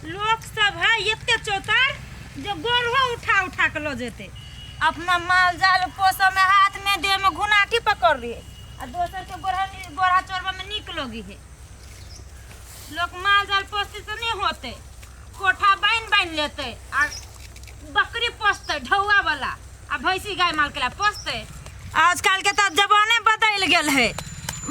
लोक सब है एते चौतार जे गोरहो उठा उठा के लो जेते अपना माल जाल पोसऽ में हाथ में देह में घुनाटी पकड़ रही है आ दोसर के गोरहा गोरहा चोरबा में निक लगी है लोग माल जाल पोसते से नहीं होते कोठा बाइन बाइन लेते आ बकरी पोसते ढौआ वाला आ भैंसी गाय माल के ला पोसते आजकल के तो जमाने बदल गेल है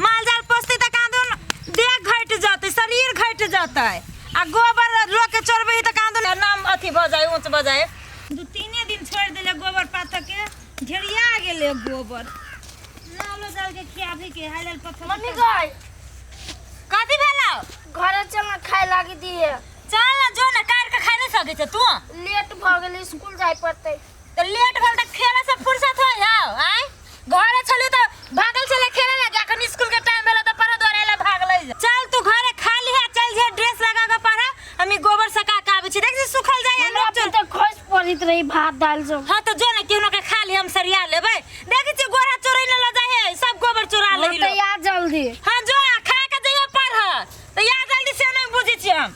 माल जाल पोसते तो कादून देह घट जाते शरीर घट जाता है आ गोबर लोग के चोरबे तो कादून नाम अथी भ जाए ऊंच भ जाए दू तीने दिन छोड़ दिले गोबर पात के ढेरिया गेले गोबर नालो जाल के खियाबी के हालल पत्थर मम्मी गाय कथी भेला घरे चलना खाए लागी दिए चल ना जो ना काट के खाए नहीं सके छै तू लेट भऽ गेल स्कूल जाय पड़तै तो लेट भेल त खेले से फुर्सत हो जाओ आय घरे छलू त भागल चले खेले लगे अखन स्कूल के टाइम भेल त पढ़ दौड़े ले भागल जा चल तू घरे खा लिहा चल जे ड्रेस लगा के पढ़ा हम ई गोबर सका के आबै छी देख छी सुखल जाय हमरा अगर चल अपन तऽ खोज पड़ैत रही भात दालि सब हां त जो ने केहनो के खा ली हम सरिया लेबै देख छी गोरा चोरै न ल जाय है सब गोबर चोरा हँ, लेही तऽ लोग याद जल्दी हां जो आ, खा के जइयो पढ़ त या जल्दी से नै बुझै छी हम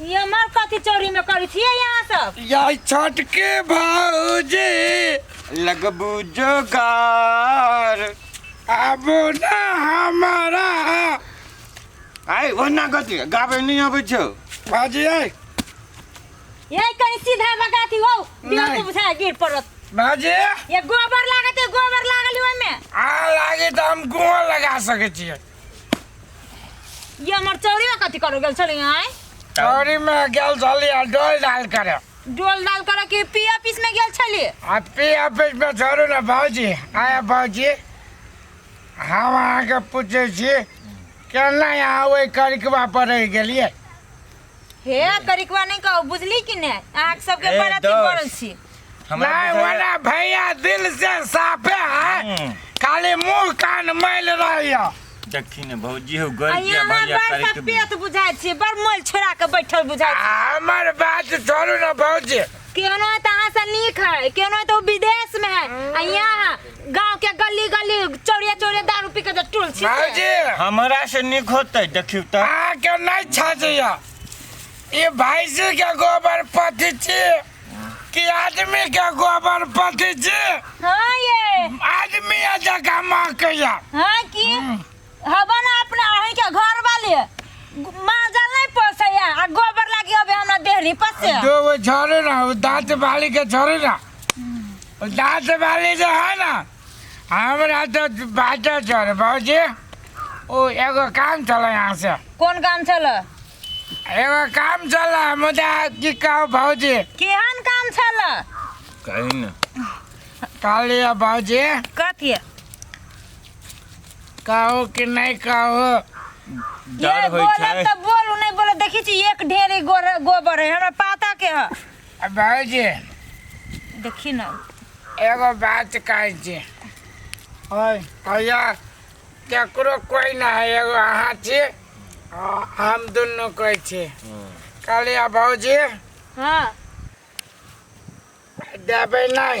ई हमर कथी चोरी में करी छियै यहाँ सब यार छठ के भौजी लगबू जोगार आबो ना हमारा आइ ओना कथी गाबै नहि अबै छौ बाजी आइ यही कहीं सीधा बगाती हो दियो नहीं। तो बुझाए गिर पड़त बाजी ये गोबर लागत है गोबर लागल ओहिमे आ लागे तऽ हम गुआ लगा सकै छियै ये हमर चौरिया कथी करो गेल छली आय चौरी में गेल छली आ डोल डाल करे डोल डाल करे कि पी ऑफिस में गेल छली आ पी ऑफिस में छोड़ू ने भौजी आया भौजी हम अहाँके पूछे छी केना यहाँ ओहि करिकबा पर रहि गेलियै हे करिकवा नहीं कहो बुझली कि ने अहाँ सबके ए, बड़ अथी दोस्त। पड़ल छी हमरा नहीं बुझाइए- वाला भैया दिल से साफे है हम्म। खाली मुंह कान मैल रही है देखी ने भौजी हो गई आ क्या यहाँ भैया बड़ करे के सपेत बुझाइ छी बड़ मोल छोड़ा के बैठल बुझाइ छी हमर बात छोड़ू ना भौजी केहनो है तो अहाँ से नीक है केहनो है तो विदेश में है आ यहाँ गांव के गली गली चौड़िया चौड़िया दारू पी के तो तुलसी के। भाजी हमरा से निक होतै देखियौ तऽ आ के नहीं छाजैया ये भैंसी के गोबर पथी छी कि आदमी के गोबर पथी छी हाँ ये आदमी जगह माँ कहिया हाँ की हबे ना अपने अहीं के घर वाले माजल नहीं पोसैया आ गोबर लागी अबे हमरा देहरी पसे जो वो झरे ना वो दांत बाली के झरे ना वो दांत बाली जो है ना हमरा तो बाजा झरे बाबूजी ओ एगो काम चला यहाँ से कौन काम छल एगो काम चला मुदा की कहो भाजी केहन काम छल कहीं ना काली बाबूजी कथी कहो कि नहीं कहो डर ये होइ बोलब छै त बोलू नहीं बोलब देखी छी एक ढेरी गोर- गोबर है हमरा पता के ह अब भाजी देखी ना एगो बात कहै छी ओए भैया केकरो कोई ना है एगो अहाँ छी आ हम दुनू कोई छी कहलियै भौजी हाँ देबै नहि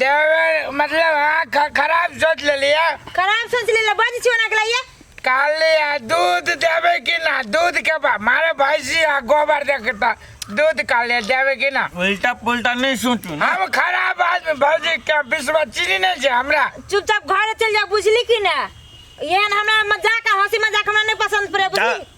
देवर मतलब हाँ ख- खराब सोच ले लिया खराब सोच ले बज छियो ना कलाइए काले आ दूध देवे कि ना दूध के बा मारे भैंसी आ गोबर देखता दूध काले देवे कि ना उल्टा पुल्टा नहीं सोचू ना हम खराब आदमी भौजी के विश्व चीनी नहीं छै हमरा चुपचाप घर चल जा बुझली कि ना एहन हमरा मजाक आ हंसी मजाक हमरा नहीं पसंद पड़े बुझली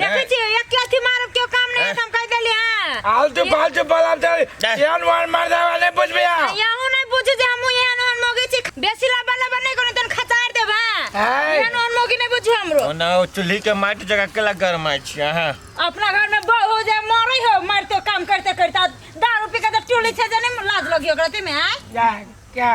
देखै छी एक के अथी मारब केओ काम नहि हैत हम कहि देली हँ आलतू फालतू बोलब तऽ हैं? एहन वन मार देबा नहि बुझबे अहाँ। यहूँ नहि बुझू जे हमहूँ एहन ओहन मौगी छी बेसी लबा लबा नहि कोनो तन खतार देब हँ हैं? एहन ओहन मौगी नहि बुझू हमरो ओना ओ चूल्ही के माटि जगह केला गरमाइ छी अहाँ अपना घर में बहू हो जाए मरे हो मारते काम करते करते आ दारू पी के तो टोली छे जाने में लाज लगी ओकरा ते में आय जा, जा।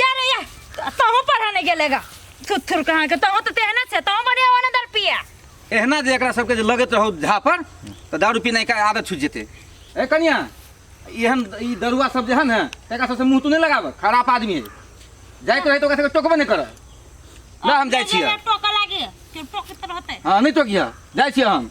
यार या तहु पढ़ा नहीं गेलेगा सुथुर कहाँ के तहु तो तेहना छे तहु बढ़िया होने दर पिया एहना जे एकरा सबके जे लगैत रहौ झापर तऽ दारू पीनाइ के आदत छुटि जेतै ए कनिया एहन ई दरुआ सब जे है ने तकरा सबसँ मुँह तू नहि लगाबह खराब आदमी है जाइत रहै तऽ ओकरा सबके टोकबे नहि करऽ ना हम जाइ छियै टोका लागे के टोकत रहते हँ नहि टोकिह जाइ छियै हम